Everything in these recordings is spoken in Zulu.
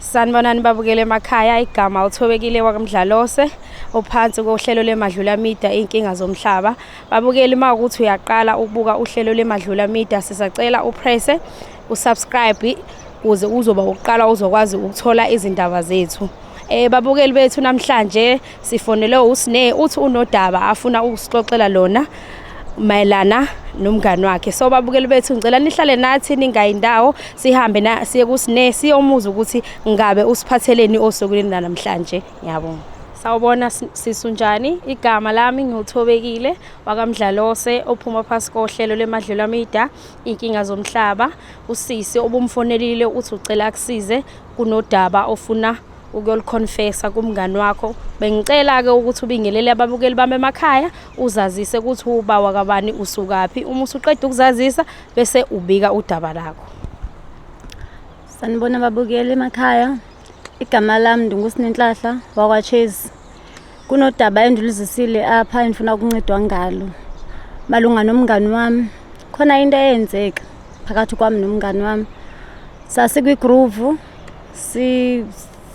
Sanibonani babukele emakhaya igama uthobekile wakamdlalose ophansi kohlelo lemadlula media inkinga zomhlaba babukeli uma ukuthi uyaqala ukubuka uhlelo lemadlula media sisacela upresse usubscribe kuze uzoba uqala uzokwazi ukuthola izindaba zethu eh babukeli bethu namhlanje Sifonelwe uSne uthi unodaba afuna ukusixoxela lona mayelana nomngani wakhe so babukeli bethu ngicela nihlale nathi ningayi ndawo sihambe na siye kusine siyomuza ukuthi ngabe usiphatheleni osukwini namhlanje ngiyabonga sawubona sisunjani igama lami ngiwuthobekile wakamdlalose ophuma phasi kohlelo lemadlelo amida inkinga zomhlaba usisi obumfonelile uthi ucela akusize kunodaba ofuna ukuyoliconfessa kumngani wakho bengicela-ke ukuthi ubingelele ababukeli bami emakhaya uzazise ukuthi uba wakabani usukaphi uma usuqeda ukuzazisa bese ubika udaba lakho sanibona ababukeli emakhaya igama lami ndingusinenhlahla wakwachase kunodaba endiluzisile apha endifuna ukuncedwa ngalo malunga nomngani wami khona into eyenzeka phakathi kwami nomngani wami sasikwigroove si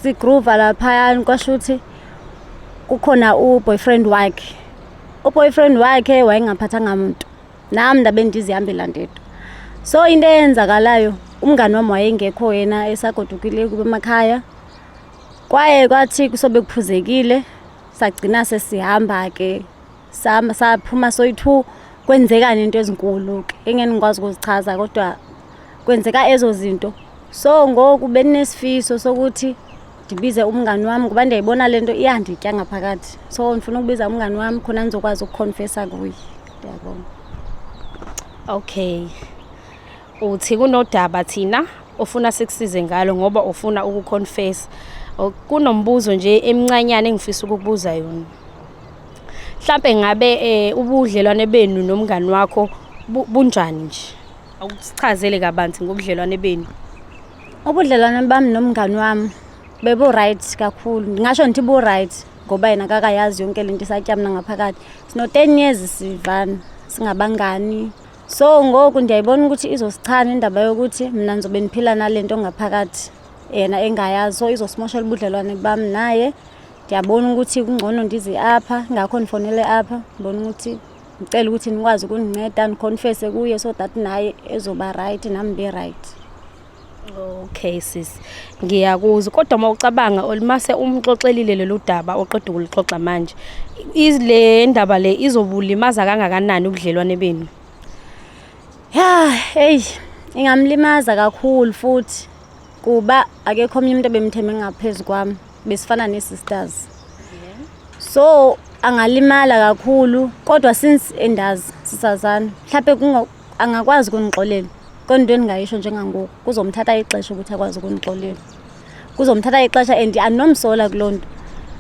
sigroova laphayana kwasho ukuthi kukhona uboyfriend wakhe uboyfriend wakhe wayengaphathanga muntu nami ndabe ndizihambela ndedwa so into eyenzakalayo umngani wami wayengekho yena esagodukile kube emakhaya kwaye kwathi kusobe kuphuzekile sagcina sesihamba ke Sama saphuma soyi-2 kwenzekani into ezinkulu ke engeke ngikwazi ukuzichaza kodwa kwenzeka ezo zinto. So ngoku benesifiso sokuthi ndibize umngani wami ngoba ndiyayibona le nto iyanditya ngaphakathi. So ndifuna ukubiza umngani wami khona ndizokwazi ukuconfessa kuye. Ndiyabonga. Okay. Uthi kunodaba thina ofuna sikusize ngalo ngoba ufuna ukuconfessa. Kunombuzo nje emncanyane engifisa ukukubuza yona. mhlampe ngabe eh, ubudlelwane benu nomngani wakho bu- bunjani nje awusichazele kabanzi ngobudlelwane benu ubudlelwane bami nomngani wami bebu-right kakhulu ndingasho ndithi bu-right ngoba yena kakayazi yonke le nto isatyamna ngaphakathi sino-ten years sivana singabangani so ngoku ndiyayibona ukuthi izosichana indaba yokuthi mna ndizobe ndiphila nale nto ngaphakathi yena engayazi so izosimoshela ubudlelwane bami naye ndiyabona ukuthi kungcono ndize apha ngakho ndifonele apha ndibona ukuthi ndicela ukuthi nikwazi ukundinceda ndiconfese kuye so that naye ezoba rayithi nam ndibe rayithi okay sis ngiyakuzwa kodwa uma ucabanga olumase umxoxelile lolu daba oqeda ukulixoxa manje le ndaba le izobulimaza kangakanani ubudlelwane benu ya eyi ingamlimaza kakhulu futhi kuba akekho omnye umuntu ebemthembe ngaphezu kwami besifana ne-sisters so angalimala kakhulu kodwa since endazi sisazana mhlawumbe angakwazi ukunixolela kodwa into endingayisho njengangoku kuzomthatha ixesha ukuthi akwazi ukunixolela kuzomthatha ixesha and andinomsola kuloo nto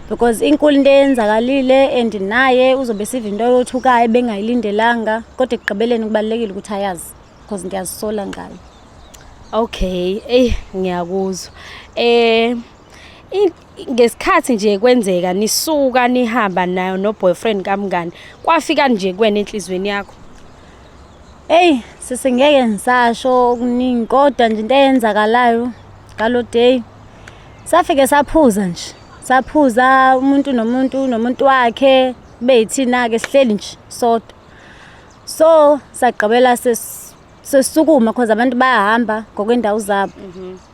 because inkulu into eyenzakalile and naye uzobe siva into yothukayo bengayilindelanga kodwa ekugqibeleni kubalulekile ukuthi ayazi because ndiyazisola ngayo okay eyi ngiyakuzwa um ngesikhathi nje kwenzeka nisuka nihamba nayo no boyfriend kamngani kwafika nje kwena enhlizweni yakho Hey sisi ngeke ngisasho okuningi kodwa nje into eyenzakalayo ngalo day safike saphuza nje saphuza umuntu nomuntu nomuntu wakhe beyithina ke sihleli nje sodwa so sagqibela sesukuma because abantu bayahamba ngokwendawo zabo mhm.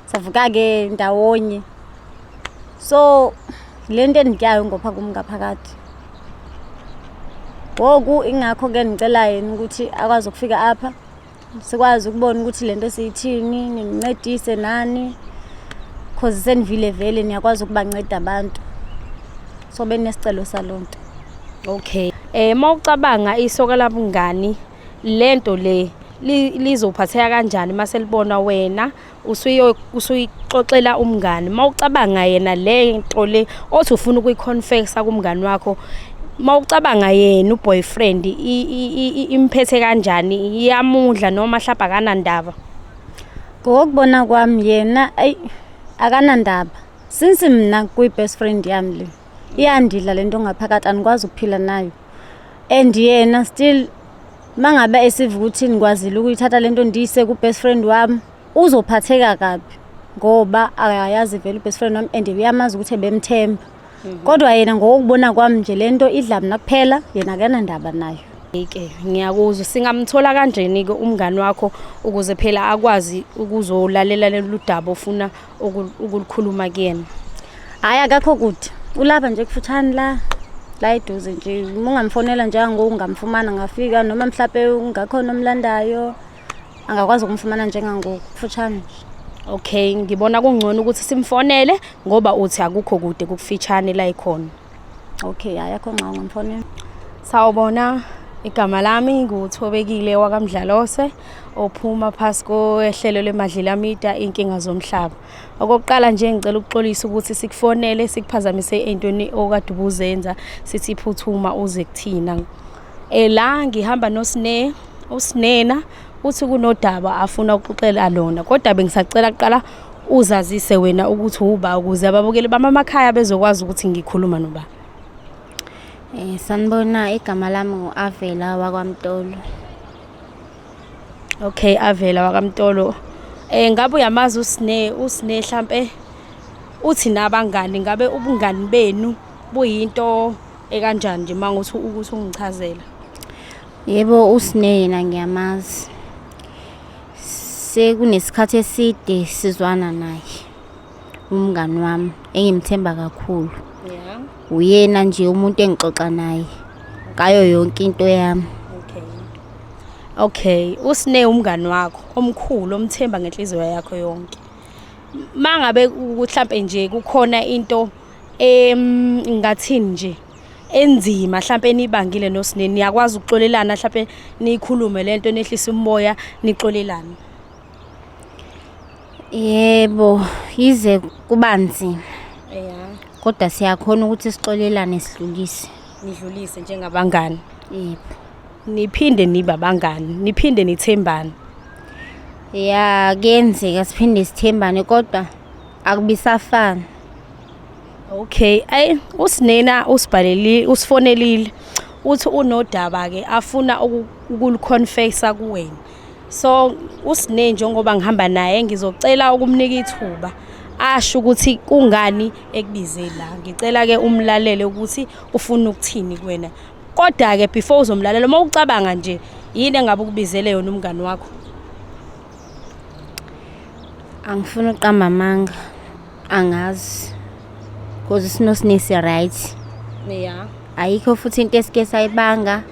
savuka-ke ndawonye so le nto endityayo ngopha kum ngaphakathi ngoku ingakho ke ndicela yena ukuthi akwazi ukufika apha sikwazi ukubona ukuthi le nto siyithini nimncedise nani cause senivile vele niyakwazi ukubanceda abantu so benesicelo saloo nto okay eh uma ucabanga isoka labungani lento le lizophatheka kanjani uma selibona wena usuyo usuyixoxela umngani mawucabanga yena le nto le othi ufuna ukuyiconfessa kumngani wakho mawucabanga yena uboyfriend imphethe kanjani iyamudla noma hlapha kanandaba ngokubona kwami yena ayi akanandaba since mina kuyi best friend yami le iyandidla lento ngaphakathi anikwazi ukuphila nayo and yena still uma ngabe esiva ukuthi nikwazile ukuyithatha le nto ndiyise ku-best friend wami uzophatheka kabi ngoba akayazi vele u-best friend wami and uyamazi ukuthi ebemthemba mhm. kodwa yena ngokubona kwami nje le nto idla mna kuphela yena akanandaba nayo ke ngiyakuzwa singamthola kanjeni-ke umngani wakho ukuze phela akwazi ukuzolalela lolu daba ofuna ukulikhuluma kuyena hhayi akakho kude ulapha nje kufutshane la la eduze nje uma ungamfonela njengangoku ungamfumana ngafika noma mhlawumpe ungakhona omlandayo angakwazi ukumfumana njengangoku kufutshane nje okay ngibona kungcono ukuthi simfonele ngoba uthi akukho kude kukufitshane la ikhona Okay, hayi akho ngxongo mfonini. Sawubona. Igama lami nguThobekile wakamdlalose ophuma phasi kohlelo lemadlela media inkinga zomhlaba. Okokuqala nje ngicela ukuxolisa ukuthi sikufonele sikuphazamise entweni okade ubuzenza sithi phuthuma uze kuthina. Ela eh, ngihamba nosine usinena uthi kunodaba afuna ukuxoxela lona kodwa bengisacela kuqala uzazise wena ukuthi uba ukuze ababukeli bami amakhaya bezokwazi ukuthi ngikhuluma noba um sanibona igama lami ngu-avela wakwamtolo okay avela wakamtolo um eh, ngabe uyamazi usine usine mhlampe uthi nabangani ngabe ubungani benu buyinto ekanjani nje uma ngothi ukuthi ungichazela Yebo uSne yena ngiyamazi. Sekunesikhathi eside sizwana naye. Umngani wami engimthemba kakhulu. Yeah. Uyena nje umuntu engixoxa naye ngayo yonke into yami. Okay. Okay, uSne umngani wakho omkhulu omthemba ngenhliziyo yakho yonke. Mangabe mhlambe nje kukhona into em ngathini nje enzima mhlawumbe enibangile nosineni niyakwazi ukuxolelana mhlawumbe niyikhulume le nto nehlisa umoya nixolelane yebo yize kuba nzima ya kodwa siyakhona ukuthi sixolelane sidlulise nidlulise njengabangani yebo niphinde nibe abangani niphinde nithembane ya kuyenzeka siphinde sithembane kodwa akubisafani Okay, ay usinena usibhaleli usifonelile uthi unodaba ke afuna ukuliconfessa kuwena. So usine njengoba ngihamba naye ngizocela ukumnika ithuba asho ukuthi kungani ekubize la. Ngicela ke umlalele ukuthi ufuna ukuthini kuwena. Kodwa ke before uzomlalela uma ucabanga nje yini engabe ukubizele yona umngani wakho? Angifuni uqamba amanga. angazi cause isinosine si-right ya ayikho futhi into esike sayibanga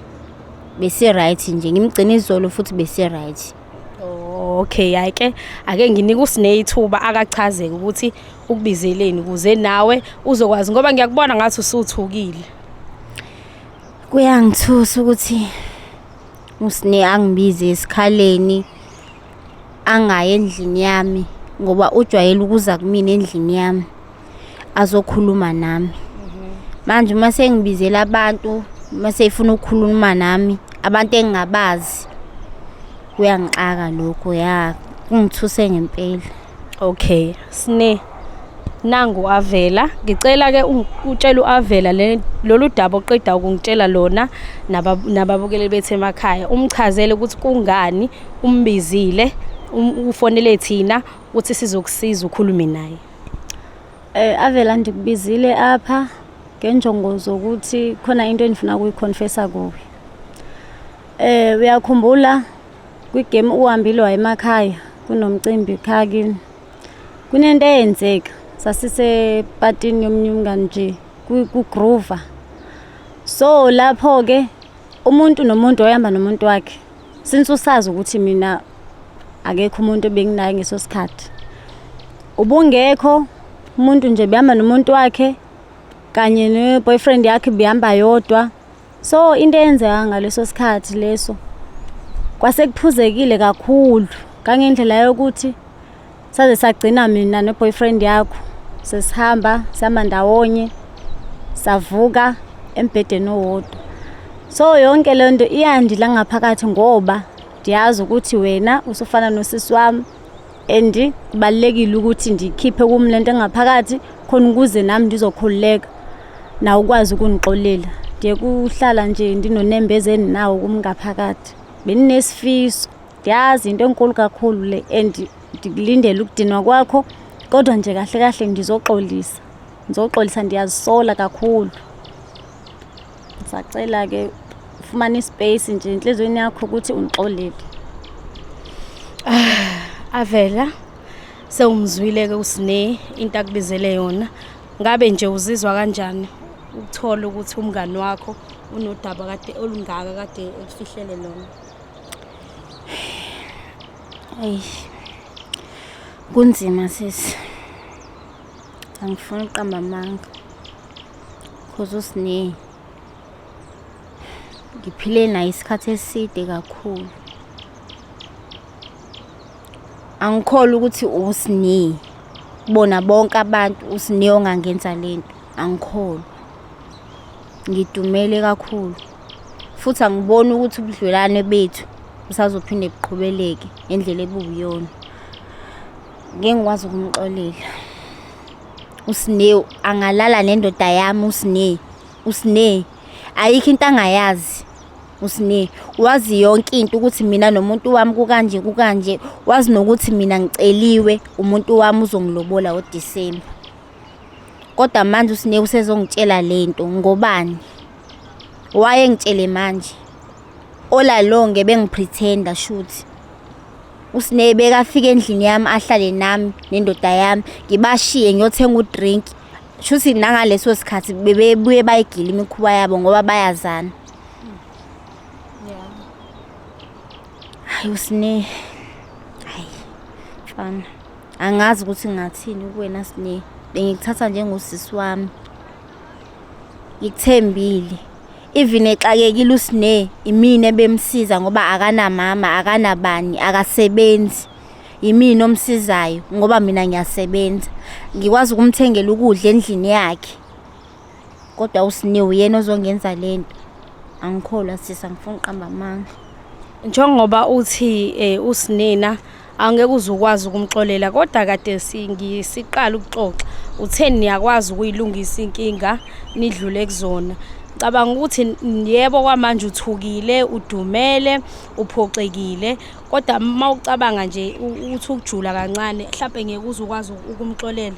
besi-right nje ngimgcina izolo futhi besi-right Oh, okay hayi ke ake nginike usine ithuba akachazeke ukuthi ukubizeleni ukuze nawe uzokwazi ngoba ngiyakubona ngathi usuthukile kuyangithusa ukuthi usine angibize esikhaleni angayi endlini yami ngoba ujwayele ukuza kumina endlini yami azokhuluma nami manje uma sengibizela abantu uma seyifuna ukukhuluma nami abantu engingabazi kuyangixaka lokho ya kungithuse ngempela Okay, sne nangu avela ngicela ke utshela uavela lolu daba oqeda ukungitshela lona nababukeli bethu emakhaya umchazele ukuthi kungani umbizile um, ufonele thina ukuthi sizokusiza ukhulume naye eh avela ndikubizile apha ngenjongo zokuthi khona into endifuna ukuyiconfessa kuwe eh uyakhumbula Kwigame uhambile wayemakhaya kunomcimbi khaya kini. Kunento eyenzeka sasisepatini yomunye umngani nje kugroover. So lapho ke umuntu nomuntu wayehamba nomuntu wakhe. Since usazi ukuthi mina akekho umuntu obenginaye ngeso sikhathi. Ubungekho umuntu nje behamba nomuntu wakhe kanye ne boyfriend yakhe behamba yodwa. so into eyenzeka ngaleso sikhathi leso kwasekuphuzekile kakhulu kangendlela yokuthi saze sagcina mina neboyfriend yakho sesihamba sihamba ndawonye savuka embhedeni owodwa so yonke le nto iyandila ngaphakathi ngoba ndiyazi ukuthi wena usufana nosisi wami and kubalekile ukuthi ndikhiphe kum lento engaphakathi khona ukuze nami ndizokhululeka nawe ukwazi ukundixolela ndiye kuhlala nje ndinonembeza endinawo kum ngaphakathi benginesifiso ndiyazi into enkulu kakhulu le and ndikulindele ukudinwa kwakho kodwa nje kahle kahle ndizoxolisa ndizoxolisa ndiyazisola kakhulu Sacela ke fumana ispace nje enhlizweni yakho ukuthi ungixolele. Ah, avela sewumzwile ke usine into akubizele yona. Ngabe nje uzizwa kanjani ukuthola ukuthi umngani wakho unodaba kade olungaka kade ekufihlele lona? Ey. Kunzima sisi. Angifuni uqamba amanga. cause usine ngiphile naye isikhathi eside kakhulu angikholwa ukuthi usine bona bonke abantu usine ongangenza lento angikholwa ngidumele kakhulu futhi angiboni ukuthi ubudlelwane bethu busazophinde buqhubeleke ngendlela ebubuyona ngeke ngikwazi ukumxolela uSnew angalala nendoda yami uSnew uSnew ayikho into angayazi uSnew wazi yonke into ukuthi mina nomuntu wami kukanje kukanje wazi nokuthi mina ngiceliwe umuntu wami uzongilobola oDecember kodwa manje uSnew usezongitshela lento ngobani waye ngitshele manje olalonge bengipretenda shuthi uSneh bekafika endlini yami ahlale nami nendoda yami ngibashiye ngiyothenga udrink shuthi nangaleso sikhathi bebebuye bayigila imikhuba yabo ngoba bayazana hayi uSneh hayi mfana angazi ukuthi ngathini kuwena Sneh bengikuthatha njengosisi wami ngikuthembile even exakekile usine imina ebemsiza ngoba akanamama akanabani akasebenzi yimina omsizayo ngoba mina ngiyasebenza ngikwazi ukumthengela ukudla endlini yakhe kodwa usine uyena ozongenza le nto angikholwa sisa ngifuna uqamba amanga njengoba uthi um usinina angeke uze ukwazi ukumxolela kodwa kade ngisiqala ukuxoxa utheni niyakwazi ukuyilungisa inkinga nidlule kuzona cabanga ukuthi yebo kwamanje uthukile udumele uphoxekile kodwa uma ucabanga nje uthi ukujula kancane mhlawumbe ngeke uze ukwazi ukumxolela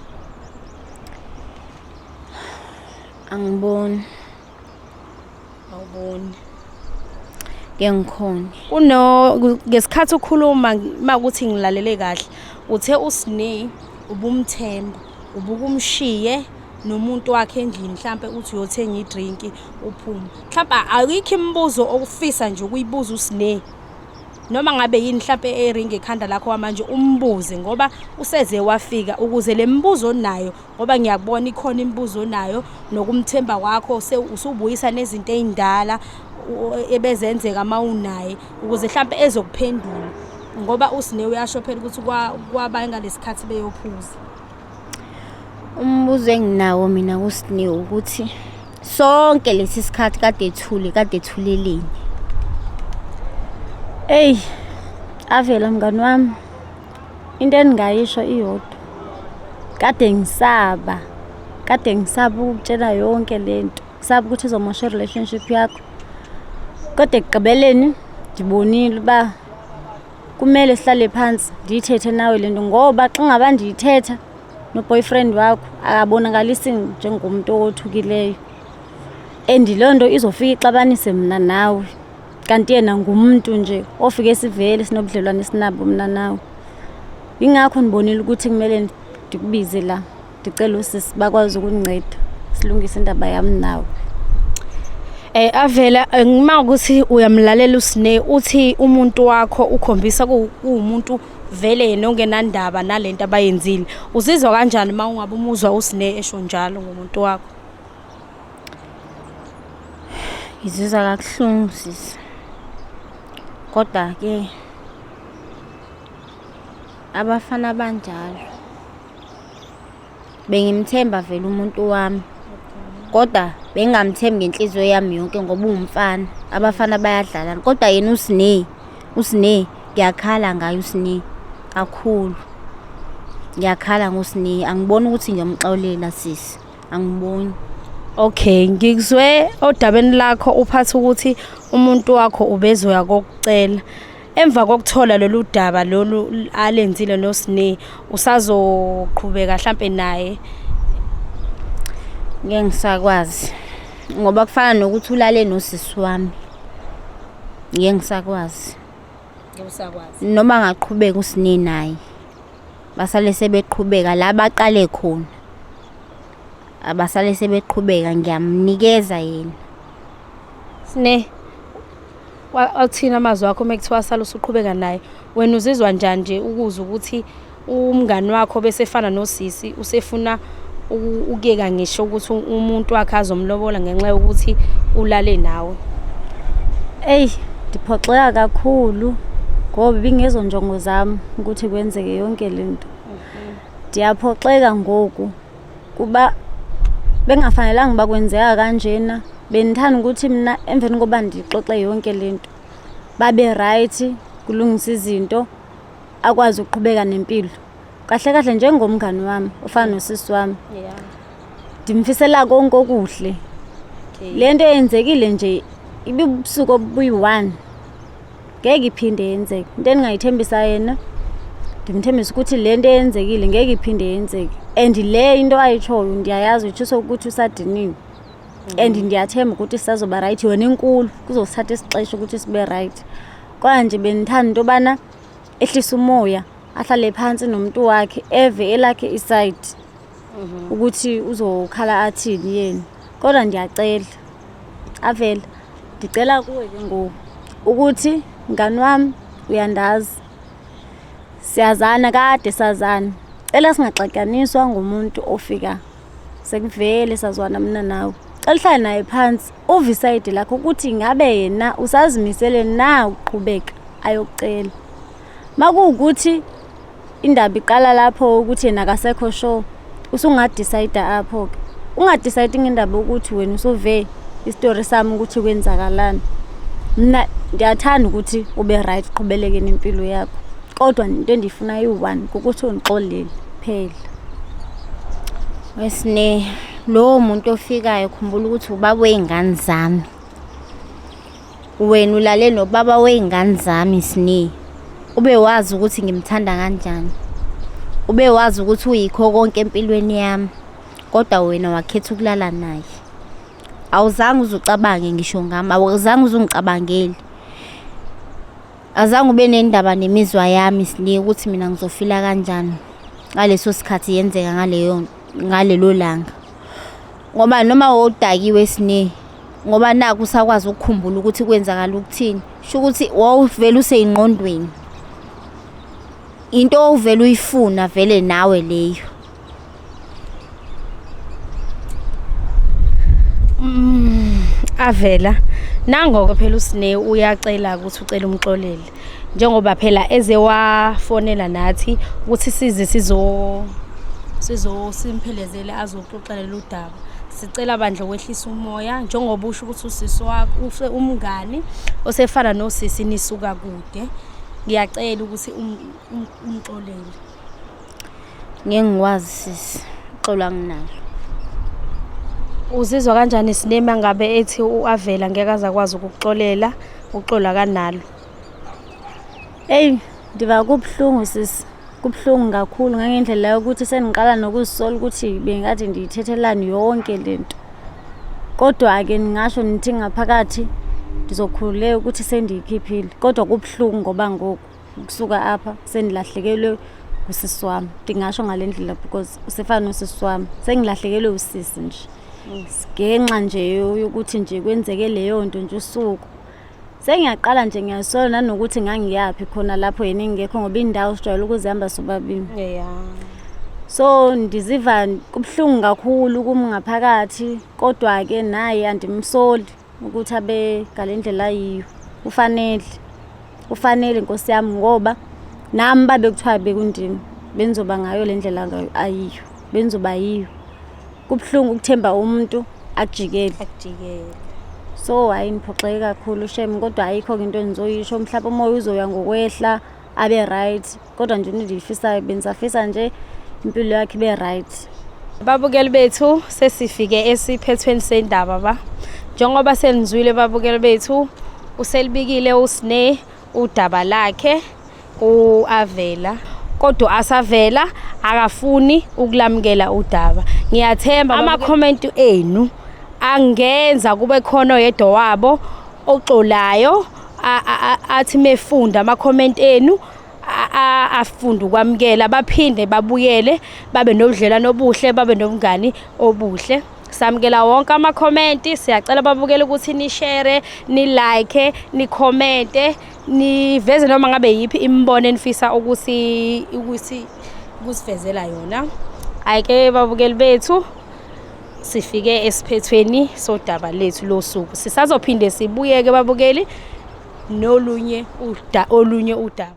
angiboni awuboni ke ngikhona kuno ngesikhathi ukhuluma makuthi ngilalele kahle uthe usine ubumthemba ubukumshiye nomuntu wakhe endlini mhlambe uthi uyothenga idrink uphume mhlambe ayikho imibuzo okufisa nje ukuyibuza usine noma ngabe yini mhlambe eringi ekhanda lakho manje umbuze ngoba useze wafika ukuze lemibuzo onayo ngoba ngiyakubona ikhona imibuzo onayo nokumthemba kwakho usubuyisa nezinto ey'ndala ebezenzeka uma unaye ukuze mhlawumpe ezokuphendula ngoba usine uyasho phela ukuthi kwaba ngalesikhathi beyophuza umbuzo enginawo mina kusine ukuthi sonke lesi sikhathi kade ethule kade ethuleleni eyi avela mngani wami into endingayisho iyodwa kade ngisaba kade ngisaba ukutshela yonke le nto ngisaba ukuthi izomosha i-relationship yakho kodwa ekugqibeleni ndibonile uba kumele sihlale phansi ndiyithethe nawe le nto ngoba xa ngaba ndiyithetha noboyfriend wakho akabonakalisi njengomntu owothukileyo and loo nto izofika ixabanise mna nawe kanti yena ngumuntu nje ofike sivele sinobudlelwane esinabo mina nawe yingakho ndibonile ukuthi kumele ndikubize la ndicela usisi bakwazi ukundinceda silungise indaba yami nawe Eh avela eh, ngima ukuthi uyamlalela usine uthi umuntu wakho ukhombisa kuwumuntu vele yena ongenandaba nalento abayenzile uzizwa kanjani uma ungabe umuzwa usine esho njalo ngomuntu wakho ngizizwa kabuhlungu sisi kodwa ke abafana banjalo bengimthemba vele umuntu wami kodwa bengingamthembi ngenhliziyo yami yonke ngoba uwumfana abafana bayadlalana kodwa yena usine usine ngiyakhala ngayo usine kakhulu ngiyakhala ngosine angiboni ukuthi ngiyomxolela sisi angiboni okay ngikuzwe odabeni lakho uphatha ukuthi umuntu wakho ubezoya kokucela emva kokuthola lolu daba lolu alenzile nosine usazoqhubeka mhlampe naye ngeke ngisakwazi ngoba kufana nokuthi ulale nosisi wami ngeke ngisakwazi noma angaqhubeka usine naye basale sebeqhubeka la baqale khona abasale sebeqhubeka ngiyamnikeza yena sine wathina amazwi akho uma kuthiwa sala usuqhubeka naye wena uzizwa njani nje ukuzwa ukuthi umngani wakho bese efana nosisi usefuna ukuyeka ngisho ukuthi umuntu wakhe azomlobola ngenxa yokuthi ulale nawe eyi ndiphoxeka kakhulu ngoba ibingezo njongo zami ukuthi kwenzeke yonke le nto ndiyaphoxeka ngoku kuba bengafanelanga uba kwenzeka kanjena bendithanda ukuthi mna emveni koba ndixoxe yonke le nto babe rayithi kulungisa izinto akwazi ukuqhubeka nempilo kahle kahle njengomngani wami ofana nosisi wami yeah ndimfisela konke okuhle okay le nto eyenzekile nje ibibusuku obuyi-one ngeke iphinde yenzeke into endingayithembisa yena ndimthembisa ukuthi le nto eyenzekile ngeke iphinde yenzeke and le into ayitshoyo ndiyayazi utshiso ukuthi usadiniwe and ndiyathemba ukuthi sazoba rayithi yona inkulu kuzosithatha isixesha ukuthi sibe rayithi kwanje bendithanda into yobana ehlisa umoya ahlale phansi nomuntu wakhe eve elakhe isayidi mhm. ukuthi uzokhala athini yena kodwa ndiyacela avela ndicela kuwe ke ngoku ukuthi mngani wami uyandazi siyazana kade sazana cela singaxatywaniswa ngumuntu ofika sekuvele sazwana mna nawe cela uhlale naye phansi Uvisayidi lakho ukuthi ngabe yena usazimisele na ukuqhubeka ayocela. Makuwukuthi indaba iqala lapho ukuthi yena akasekho sure usungadecide apho ke. Ungadecide ngendaba ukuthi wena usuve istory sami ukuthi kwenzakalani. Mina ndiyathanda ukuthi ube right uqhubeleke nempilo yakho. Kodwa into endiyifuna yi-one ukuthi ungixolele phela. Wesine. Lowo muntu ofikayo khumbula ukuthi ubaba wey'ngane zami. Wena ulale nobaba wey'ngane zami Sne. Ube wazi ukuthi ngimthanda kanjani. Ube wazi ukuthi uyikho konke empilweni yami. Kodwa wena wakhetha ukulala naye. Awuzange uzucabange ngisho ngami, awuzange uzungicabangeli. Azange ube nendaba nemizwa yami Sne ukuthi mina ngizofila kanjani ngaleso sikhathi yenzeka ngaleyo nto. ngalelo langa ngoba noma wawudakiwe sine ngoba naku usakwazi ukukhumbula ukuthi kwenzakala ukuthini sho ukuthi wawuvele useyingqondweni into owuvele uyifuna vele nawe leyo mm, avela nangoke phela usine uyacela ukuthi ucela umxolele njengoba phela eze wafonela nathi ukuthi size sizo sizo simphelezele azoxoxela lolu daba sicela bandla kwehlisa umoya njengoba usho ukuthi usisi wakho use umngani osefana nosisi nisuka kude ngiyacela ukuthi um, um, umxolele ngeke ngikwazi sisi uxolo anginalo uzizwa kanjani sinema ngabe ethi u-avela ngeke aze akwazi ukukuxolela uxolo akanalo eyi ndiva kubuhlungu sisi kubuhlungu kakhulu ngangendlela yokuthi sendiqala nokuzisola ukuthi bengathi ndiyithethelani yonke le nto kodwa-ke ndingasho nithi ngaphakathi ndizokhululeka ukuthi sendiyikhiphile kodwa kubuhlungu ngoba ngoku ukusuka apha sendilahlekelwe usisi wami ndingasho ngale ndlela because usefana nosisi wami sengilahlekelwe usisi nje ngenxa nje yokuthi nje kwenzeke leyo nto nje usuku sengiyaqala nje ngiyasola nanokuthi ngangiyaphi khona lapho yena engekho ngoba indawo sijwayele ukuzihamba sobabili so ndiziva kubuhlungu kakhulu kum ngaphakathi kodwa-ke naye andimsoli ukuthi abe ngale ndlela ayiyo ufanele ufanele nkosi yami ngoba nami babe kuthiwa bekundini bengizoba ngayo le ndlela ayiyo bengizoba yiyo kubuhlungu ukuthemba umuntu akujikele akujikele so hayi ngiphoxeke kakhulu shem kodwa ayikho-ke into engizoyisho mhlawumpe umoya uzoya ngokwehla abe right kodwa nje into endiyifisayo bendisafisa nje impilo yakhe ibe right babukeli bethu sesifike esiphethweni sendaba ba njengoba senizwile babukeli bethu uselibikile usne udaba lakhe uavela kodwa asavela akafuni ukulamukela udaba ngiyathemba ama-comment enu angenza kube khona oyedwa wabo oxolayo athi mefunda ama-comment enu afunde ukwamukela baphinde babuyele babe nobudlelwano obuhle babe nobungani obuhle samukela wonke amakhomenti siyacela babukele ukuthi nishere nilike nikhomente niveze noma ngabe yiphi imibono enifisa ukuthi ukuthi kusivezela yona ayike babukeli bethu sifike esiphethweni sodaba lethu losuku sisazophinde sibuyeke babukeli nolunye uda olunye udaba